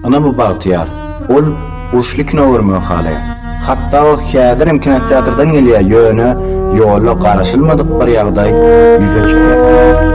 Ynha bu Bagtyýar. Ol uruşly kino görmegi halaýar. Hatda o häzirem kinoteatrdan gelýär, ýöne ýolda garaşylmadyk bir ýagdaý ýüze çykýar.